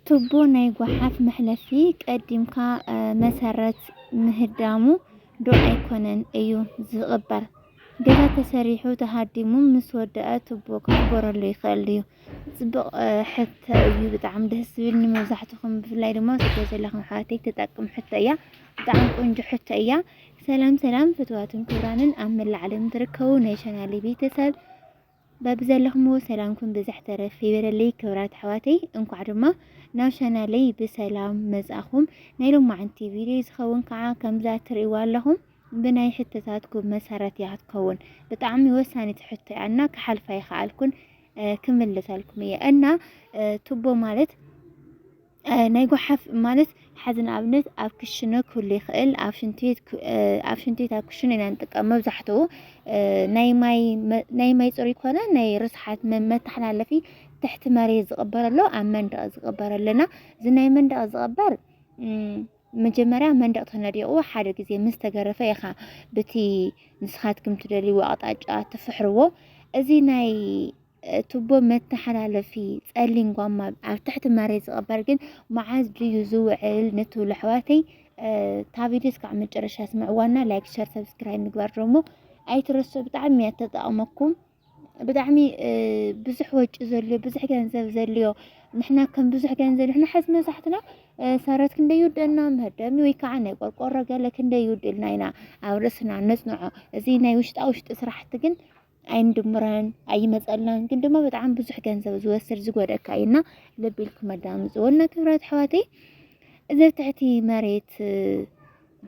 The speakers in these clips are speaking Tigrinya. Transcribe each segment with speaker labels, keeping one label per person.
Speaker 1: ቱቦ ናይ ጓሓፍ መሕለፊ ቀዲምካ መሰረት ምህዳሙ ዶ ኣይኮነን እዩ ዝቕበር? ገዛ ተሰሪሑ ተሃዲሙ ምስ ወደኣ ቱቦ ክቕበረሉ ይኽእል እዩ። ፅቡቕ ሕቶ እዩ ብጣዕሚ ደስ ዝብል ንመብዛሕትኹም ብፍላይ ድማ ስደት ዘለኹም ኣሕዋተይ ተጠቅም ሕቶ እያ። ብጣዕሚ ቆንጆ ሕቶ እያ። ሰላም ሰላም ፍትዋትን ክብራንን ኣብ መላእ ዓለም ትርከቡ ናይ ቻናለይ ቤተሰብ በብዘለኹምዎ ሰላምኩም ብዝሕ ተረፍ ይበለለይ ክብራት ኣሕዋተይ እንኳዕ ድማ ናብ ቻናለይ ብሰላም መጻኹም ናይ ሎማዓንቲ ቪድዮ ዝኸውን ከዓ ከምዛ ትርእይዋ ኣለኹም ብናይ ሕቶታትኩም መሰረት እያ ክትከውን ብጣዕሚ ወሳኒት ሕቶ እያ እና ክሓልፋ ይኸኣልኩን ክምልሰልኩም እየ እና ቱቦ ማለት ናይ ጎሓፍ ማለት ሓዚ ንኣብነት ኣብ ክሽነ ክህሉ ይኽእል ኣብ ሽንቲ ቤት ክ- እ፣ ኣብ ሽንቲ ቤት ኣብ ክሽነ ኢና ንጥቀም መብዛሕትኡ እ፣ ናይ ማይ መ- ናይ ማይ ፅሩይ ኮነ ናይ ርስሓት መ- መተሓላለፊ ትሕቲ መሬት ዝቕበር ኣሎ ኣብ መንደቕ ዝቕበር ኣለና እዚ ናይ መንደቕ ዝቕበር እም፣ መጀመርያ መንደቕ ተነዲቑ ሓደ ግዜ ምስ ተገረፈ ኢኻ ብቲ ንስኻትኩም ትደልይዎ ኣቕጣጫ ትፍሕርዎ እዚ ናይ ቱቦ መተሓላለፊ ጸሊም ጓማ ኣብ ትሕቲ መሬት ዝቐበር ግን መዓዝ ድዩ ዝውዕል ንትብሉ ኣሕዋተይ እታ ቪድዮ እስካዕ መጨረሻ ስምዕዋና ላይክ ሸር ሰብስክራይብ ምግባር ደሞ ኣይትረሱ ብጣዕሚ እያ ተጠቕመኩም ብጣዕሚ ብዙሕ ወጪ ዘልዮ ብዙሕ ገንዘብ ዘልዮ ንሕና ከም ብዙሕ ገንዘብ ንሕና ሓዝ መብዛሕትና ሰረት ክንደይ ይውደልና መህደሚ ወይ ከዓ ናይ ቆርቆሮ ገለ ክንደይ ይውድልና ኢና ኣብ ርእስና ነፅንዖ እዚ ናይ ውሽጣ ውሽጢ ስራሕቲ ግን ኣይንድምረን ኣይመፀልናን ግን ድማ ብጣዕሚ ብዙሕ ገንዘብ ዝወስድ ዝጎደካ እዩ እና ልብ ኢልኩም ኣዳምፅዎ እና ክብራት ኣሕዋተይ እዚ ትሕቲ መሬት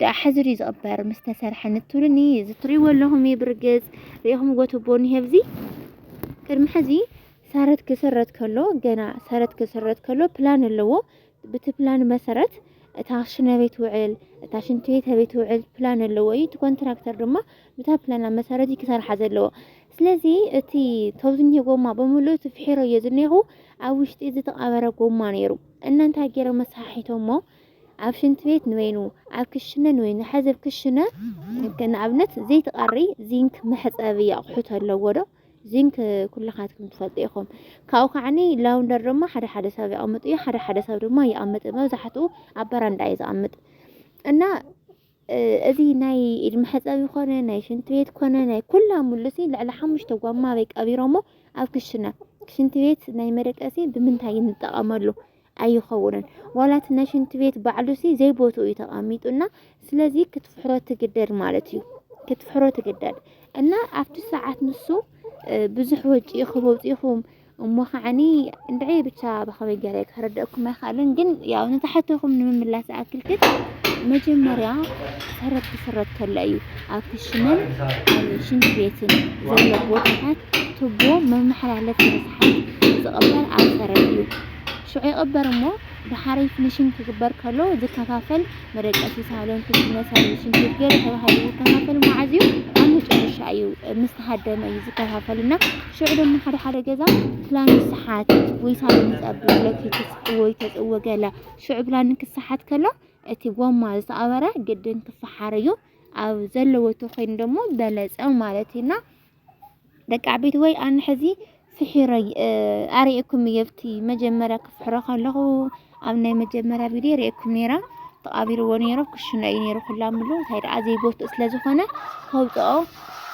Speaker 1: ደኣ ሓዚ ድዩ ዝቕበር ምስ ተሰርሐ ንትብሉኒ እዚ ትሪእዎ ኣለኹም እዩ ብርግፅ ሪኢኹም ጎትቦ እኒሀ ኣብዚ ቅድሚ ሕዚ ሰረት ክስረት ከሎ ገና ሰረት ክስረት ከሎ ፕላን ኣለዎ ብቲ ፕላን መሰረት እታ ክሽነ ኣበይ ትውዕል፣ እታ ሽንቲ ቤት ኣበይ ትውዕል ፕላን ኣለዎ እዩ። እቲ ኮንትራክተር ድማ ብታ ፕላና መሰረት እዩ ክሰርሓ ዘለዎ። ስለዚ እቲ ተው ዝኒሄ ጎማ ብምሉእ እቲ ፍሒሮ እዮ ዝኒኹ ኣብ ውሽጢ ዝተቐበረ ጎማ ነይሩ እና እንታይ ገይሮም መሰሓሒቶሞ ኣብ ሽንት ቤት ንበይኑ ኣብ ክሽነ ንበይኑ ሕዚ ኣብ ክሽነ ንኣብነት ዘይትቐሪ ዚንክ መሕፀቢ ኣቑሑት ኣለዎ ዶ ዚንክ ኩላኻትኩም ትፈልጡ ኢኹም። ካብኡ ከዓኒ ላውንደር ድማ ሓደ ሓደ ሰብ ይቐምጥ እዩ፣ ሓደ ሓደ ሰብ ድማ ይኣምጥ መብዛሕትኡ ኣብ በረንዳ እዩ ዝኣምጥ እና እዚ ናይ ኢድ መሕፀቢ ኮነ ናይ ሽንቲ ቤት ኮነ ናይ ኩላ ሙሉሲ ልዕሊ ሓሙሽተ ጓማ በይ ቀቢሮሞ ኣብ ክሽነ ሽንቲ ቤት ናይ መደቀሲ ብምንታይ ንጠቐመሉ ኣይኸውንን ዋላ እቲ ናይ ሽንቲ ቤት ባዕሉሲ ዘይቦትኡ እዩ ተቐሚጡና ስለዚ ክትፍሕሮ ትግደድ ማለት እዩ ክትፍሕሮ ትግደድ እና ኣብቲ ሰዓት ንሱ ብዙሕ ወጪ ክበውፂኹም እሞ ከዓኒ እንድዒ ብቻ ብኸመይ ገለ ክረደእኩም ኣይክኣልን ግን ያው ንታሕተኹም ንምምላስ ዝኣክል ግን መጀመርያ ሰረት ክስረት ከሎ እዩ ኣብ ክሽንን ሽንት ቤትን ዘሎ ቦታታት ቱቦ መመሓላለፊ መስሓት ዝቕበል ኣብ ሰረት እዩ ሽዑ ይቕበር እሞ ደሓረይ ፍኒሺንግ ክግበር ከሎ ዝከፋፈል መደቀሲ ሳሎን፣ ክሽነ፣ ሳሎን፣ ሽንት ገለ ተባሂሉ ዝከፋፈል መዓዝ እዩ? ኣብ መጨረሻ እዩ፣ ምስ ተሃደመ እዩ ዝከፋፈል እና ሽዑ ድማ ሓደ ሓደ ገዛ ፕላን ይሰሓት ወይ ሳሎን ይፀብብ ለፊት ወይ ተፅወ ገለ ሽዑ ፕላን ክሰሓት ከሎ እቲ ጎማ ዝተኣበረ ግድን ክፈሓር እዩ ኣብ ዘለዎ ተኮይኑ ደግሞ በለፀ ማለት እዩና ደቂ ዓበይቲ ወይ ኣነ ሕዚ ፍሒረይ ኣርእየኩም እየ ኣብቲ መጀመርያ ክፍሕሮ ከለኹ ኣብ ናይ መጀመርያ ቪድዮ ርእየኩም ነይረ ተቓቢርዎ ነይረ ክሽነ እዩ ነይሩ ኩላ ምሉ እንታይ ደኣ ዘይጎትኡ ስለ ዝኾነ ከውፅኦ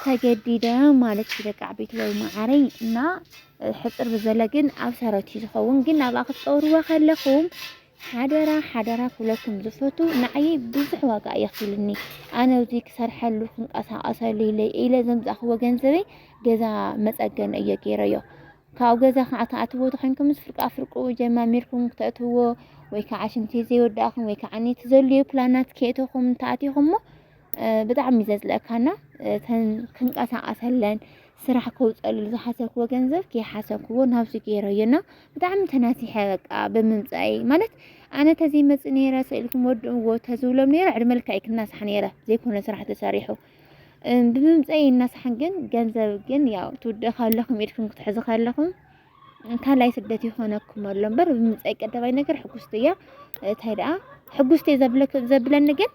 Speaker 1: ተገዲደ ማለት እዩ ደቂ ዓበይቲ ወይ መዓረይ እና ሕፅር ብዘለ ግን ኣብ ሰረት እዩ ዝኸውን ግን ናብኣ ክትፀውርዎ ከለኹም ሓደራ ሓደራ ክብለኩም ዝፈቱ ንዓየይ ብዙሕ ዋጋ እዩ ኣኽፊሉኒ ኣነ ኣብዚ ክሰርሐሉ ክንቀሳቐሰሉ ኢለ ዘምፃእኽዎ ገንዘበይ ገዛ መፀገኒ እየ ገይረዮ ካብኡ ገዛ ከዓ ተኣትዎ ተኮይንኩም ምስ ፍርቃ ፍርቁ ጀማሚርኩም ክተእትዎ ወይ ከዓ ሽንቲ ዘይወዳእኹም ወይ ከዓ ኔት ዘልዩ ፕላናት ከእተኹም ተኣቲኹም እሞ ብጣዕሚ ዘጽለእካና እተን ክንቀሳቀሰለን ስራሕ ከውፀሉ ዝሓሰብክዎ ገንዘብ ከይሓሰብክዎ ናብዚ ገይረዮ እና ብጣዕሚ ተናሲሐ በቃ ብምምፃኢ ማለት ኣነ ተዘይ መፅ ነይረ ስእልኩም ወድእዎ ተዝብሎም ነይረ ዕድመ ልክዐይ ክናሳሕ ነይረ ዘይኮነ ስራሕ ተሰሪሑ ብምምፀኢ እናሳሕን ግን ገንዘብ ግን ያው ትውድእ ካለኹም ኢድኩም ክትሕዙ ካለኹም ካልኣይ ስደት ይኾነኩም ኣሎ እምበር ብምምፀኢ ቀዳማይ ነገር ሕጉስቲ እያ እንታይ ደኣ ሕጉስቲ ዘብለኒ ግን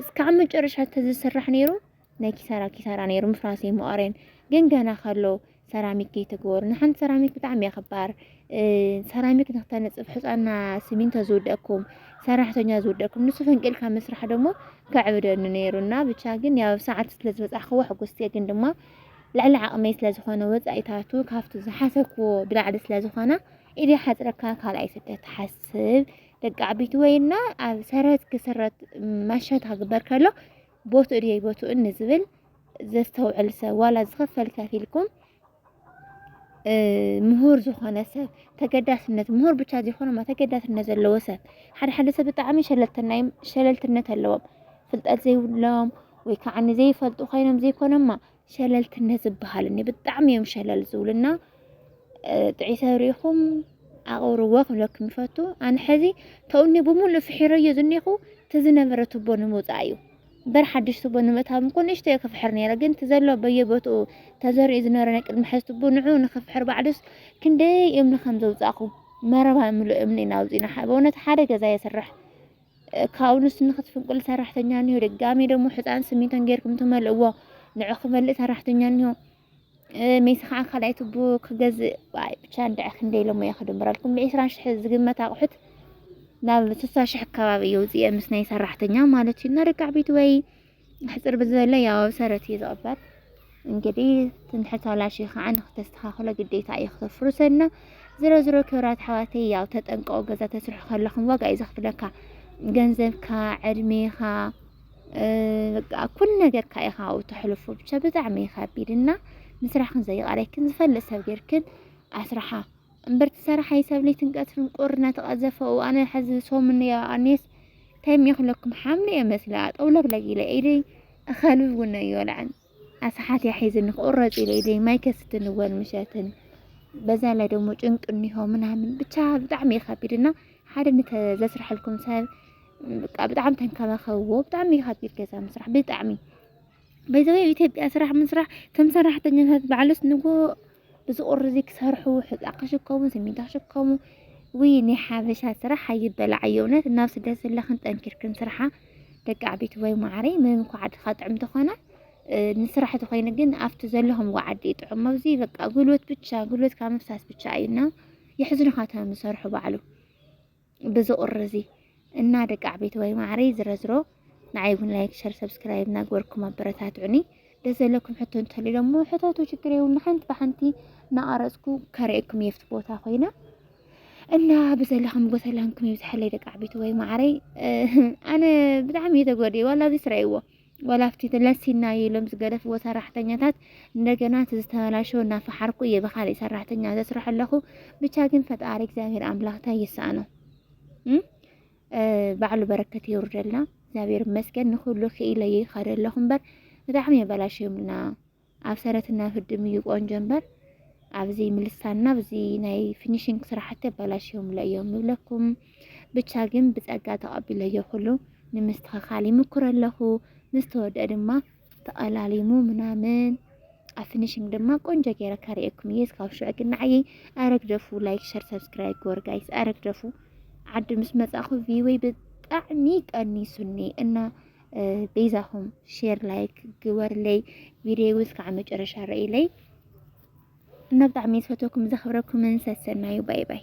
Speaker 1: እስካዕ መጨረሻ ተዝስራሕ ነይሩ ናይ ኪሳራ ኪሳራ ነይሩ ምፍራሰይ መቐረን ግን ገና ከሎ ሰራሚክ ከይተግበሩ ንሓንቲ ሰራሚክ ብጣዕሚ እያ ክባር ሰራሚክ ንክተነፅፍ ሕፃና ስሚንቶ ዝውደኩም ሰራሕተኛ ዝውደኩም ንሱ ፈንቂልካ ምስራሕ ደሞ ከዕብደኒ ነይሩ እና ብቻ ግን ያው ሰዓት ስለ ዝበፃሕክዎ ሕጉስቲ እየ ግን ድማ ልዕሊ ዓቕመይ ስለ ዝኾነ ወፃኢታቱ ካብቲ ዝሓሰብክዎ ብላዕሊ ስለ ዝኾነ ኢደይ ሓፅረካ ካልኣይ ስደት ትሓስብ ደቂ ዓቢት ወይና ኣብ ሰረት ክስረት ማሸት ሃግበር ከሎ ቦትኡ ድየ ቦትኡ ንዝብል ዘስተውዕል ሰብ ዋላ ዝኸፈል ከፊልኩም ምሁር ዝኾነ ሰብ ተገዳስነት ምሁር ብቻ ዘይኮነ ማ ተገዳስነት ዘለዎ ሰብ ሓደ ሓደ ሰብ ብጣዕሚ ሸለልተናዮም ሸለልትነት ኣለዎም ፍልጠት ዘይብሎም ወይ ከዓ ንዘይፈልጡ ኮይኖም ዘይኮነማ ሸለልትነት ዝበሃል እኒ ብጣዕሚ እዮም ሸለል ዝብሉና ጥዒሰ ርኢኹም ኣቕርዎ ክብለኩም ይፈቱ ኣነ ሕዚ ተውኒ ብምሉእ ፍሒረዮ ዝኔኹ ተዝነበረ ቱቦ ንምውፃእ እዩ በር ሓድሽ ቱቦ ንምእታው እኮ ንእሽቶ እየ ክፍሕር ነይረ ግን ተዘሎ በየቦትኡ ተዘሪኡ ዝነበረ ናይ ቅድሚ ሕዚ ቱቦ ንዑ ንክፍሕር ባዕዱስ ክንደይ እምኒ ከም ዘውፃእኹ መረባ ምሉእ እምኒ ኢና ኣውፂና በእውነት ሓደ ገዛ የስራሕ ካብኡ ንሱ ንክትፍንቅሉ ሰራሕተኛ እኒሆ ድጋሜ ደግሞ ሕፃን ስሚንቶን ጌርኩም ትመልእዎ ንዑ ክመልእ ሰራሕተኛ እኒሆ ሜሲ ከዓ ካልኣይ ቱቡ ክገዝእ ዋይ ብቻ እንድዐ ክንደይ ኢሎሞ እየ ክድምረልኩም ብዒስራ ሽሕ ዝግመት ኣቑሑት ናብ ስሳ ሽሕ ኣካባቢ እዩ ውፅኤ ምስ ናይ ሰራሕተኛ ማለት እዩ እና ደቂ ዓበይቲ ወይ ሕጽር ብዝበለ ያው ኣብ ሰረት እዩ ዝቕበር። እንግዲህ ትንሕት ኣላሽ ከዓ ንክተስተኻኽሎ ግዴታ እዩ ክተፍርሰና። ዝሮ ዝሮ ክብራት ኣሕዋተይ ያው ተጠንቀቑ። ገዛ ተስርሑ ከለኹም ዋጋ እዩ ዘኽፍለካ ገንዘብካ፣ ዕድሜኻ በቃ ኩሉ ነገርካ ኢኻ ኣብኡ ተሕልፎ ብቻ ብጣዕሚ እዩ ከቢድ እና ምስራሕክን ዘይቃረይክን ዝፈልጥ ሰብ ጌርክን ኣስራሓ እምበር ትሰራሓይ ሰብ ለይትን ቀትርን ቁር እናተቐዘፈኡ ኣነ ሕዚ ሰሙን ኣኔስ ታይም ይኽለኩም ሓምሊ እየ መስለ ኣጠውለግለግ ኢለ ኢደይ እኸልብ ውነ ይወልዐን ኣስሓት እያ ሒዝኒ ክቑረፅ ኢለ ኢደይ ማይ ከስትን እወል ምሸትን በዛ ላይ ደግሞ ጭንቅ እኒሆ ምናምን ብቻ ብጣዕሚ እዩ ከቢድ እና ሓደ ዘስርሐልኩም ሰብ ብጣዕሚ ተንከባኸብዎ ብጣዕሚ እዩ ከቢድ ገዛ ምስራሕ ብጣዕሚ ባይ ዘ ዌይ ኢትዮጵያ ስራሕ ምስራሕ ከም ሰራሕተኛታት ባዕልስ ንጉሆ እዚ ቁርዚ ክሰርሑ ሕፃ ክሽከሙ ስሚንቶ ክሽከሙ ውይ ናይ ሓበሻ ስራሕ ኣይበላዕ እዩ እውነት ናብ ስደት ዘለኽን ጠንኪርክን ስርሓ ደቂ ዓበይቲ ወይ ማዕረይ ምንም እኳ ዓድኻ ጥዕም ተኾነ ንስራሕ ተኾይኑ ግን ኣብቲ ዘለኹም ዓዲ ጥዑም ኣብዚ በቃ ጉልበት ብቻ ጉልበትካ ምፍሳስ ብቻ እዩና የሕዝኑኻ እቶም ዝሰርሑ ባዕሉ በዚ ቁሪ እዚ እና ደቂ ዓበይቲ ወይ ማዕረይ ዝረዝሮ ንዓይ እውን ላይክ ሸር ሰብስክራይብ እናግበርኩም ኣበረታትዑኒ ደስ ዘለኩም ሕቶ እንተልዩ ደሞ ሕተቱ ችግር የብሉ ሓንቲ ብሓንቲ እናቐረፅኩ ከርእየኩም የፍቲ ቦታ ኮይና እና ብዘለኹም ጎሰላምኩም ይብዝሐለይ ደቂ ዓበይቲ ወይ ማዕረይ ኣነ ብጣዕሚ እየ ተጎዲየ ዋላ ኣብዚ ስረይዎ ዋላ ኣብቲ ለሲና እዩ ኢሎም ዝገደፍዎ ሰራሕተኛታት እንደገና እቲ ዝተበላሸወ እናፈሓርኩ እየ ብካሊእ ሰራሕተኛ ዘስርሖ ኣለኹ። ብቻ ግን ፈጣሪ እግዚኣብሔር ኣምላኽ እንታይ ይስኣኖ ባዕሉ በረከት የውርደልና። እግዚኣብሔር ይመስገን ንኩሉ ክኢለ ይኸደ ኣለኹ እምበር ብጣዕሚ የበላሸዮምልና ኣብ ሰረትና ፍድም እዩ ቆንጆ እምበር ኣብዚ ምልሳና ኣብዚ ናይ ፊኒሽንግ ስራሕቲ ኣበላሽዮምለ እዮም ንብለኩም። ብቻ ግን ብፀጋ ተቐቢለዮ ኩሉ ንምስትኽኻል ይምኩር ኣለኹ። ምስ ተወድአ ድማ ተቐላሊሙ ምናምን ኣብ ፊኒሽንግ ድማ ቆንጆ ገይረ ከርእየኩም እየ። እስካብ ሽዑ ግን ንዓይ ኣረግደፉ ላይክ፣ ሸር፣ ሰብስክራይብ ግበር ጋይስ ኣረግደፉ። ዓዲ ምስ መፃኹ ቪወይ ብጣዕሚ ቀኒሱኒ እና በይዛኹም ሼር ላይክ ግበርለይ ቪድዮ እስካዕ መጨረሻ ረኢለይ እና ብጣዕሚ ዝፈተኩም ዘኽብረኩምን ሰሰናዩ ባይ ባይ